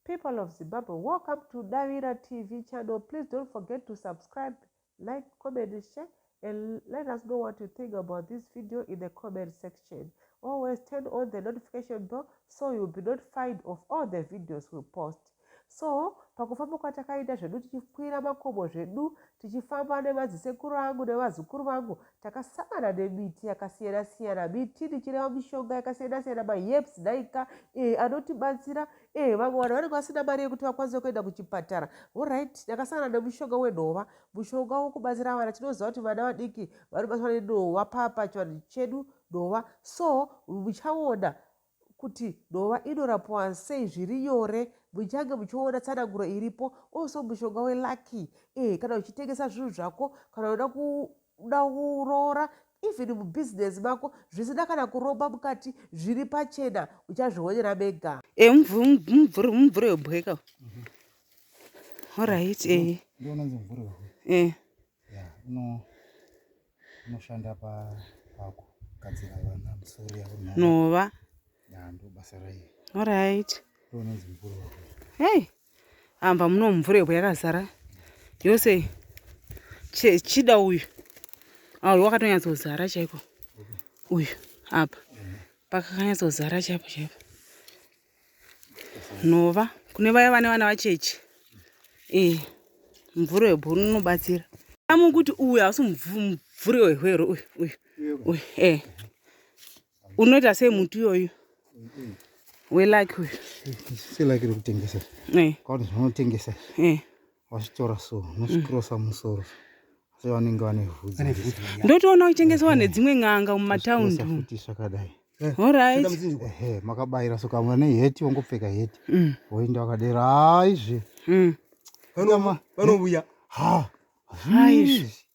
People of Zimbabwe, welcome to Davira TV channel. Please don't forget to subscribe, like, comment, share, and let us know what you think about this video in the comment section. Always turn on the notification bell so you'll be notified of all the videos we post. so pakufamba kwatakaita zvedu tichikwira makomo zvedu tichifamba nemadzisekuru angu nevazukuru vangu takasangana nemiti yakasiyana siyana miti ndichireva mishonga yakasiyana siyana maherbs daika eh, anotibatsira eh, vamwe vanhu vanenge vasina mari yekuti vakwanise kuenda kuchipatara orit ndakasangana nemushonga wenhova mushonga wokubatsira vana tinoziva kuti vana vadiki vanobatsirwa nenhova pachivanhu chedu nhova so muchaona kuti dova inorapiwa sei zviri nyore muchange muchiona tsananguro iripo also mushonga welucky eh kana uchitengesa zvinhu zvako kana uda kuda kuroora even mubhizinesi mako zvisina kana kuromba mukati zviri pachena uchazvionera mega e eh, mumvuri mumvuri webweka mhm. orit e eh. ndionanzi mumvuri webweka eh. Yeah, no. Unoshanda pa pako kadzira vana musori yavo nhova. Nhova. Yeah, ndo basa raye. All right. Ndo unonzi mvura wako. Hey. Amba muno mvura yebo yakazara. Yose che, chida uyu. Ah, uyu wakatonyatso zara chaiko. Uyu apa. Yeah. Pakakanyatso zara chaipo chaipo. nhova kune vaya vane vana vacheche e eh, mvuri webhuru unobatsira amu kuti uyu hausi mvuri wehwero uyu uyu uyu e eh. unoita sei muti iyoyu welaki uyu silaki rekutengesa eh. kwakuti zvaunotengesa vachitora so nozvikirosa mm. musoro asi vanenge vane vhudzi ndotoona uchitengesewa nedzimwe n'anga mumataundi futi zvakadai eh, orit makabayira so kamwe ne heti wongopfeka heti mm. woinda wakadera aizve mm. vanouya ha aizve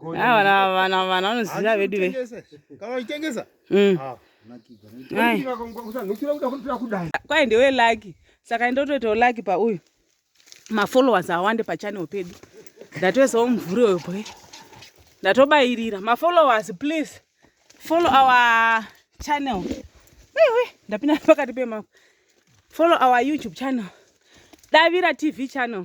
vana vana vana vanoziva vedu ve mm. ah, kwai ndewe laki saka ndotoitawo laki pauyu mafollowers awande pachanel pedu ndatoisawo mumvuri uyo boy ndatobayirira mafollowers please follow our channel wewe ndapinda pakati pemako follow our youtube channel davira tv channel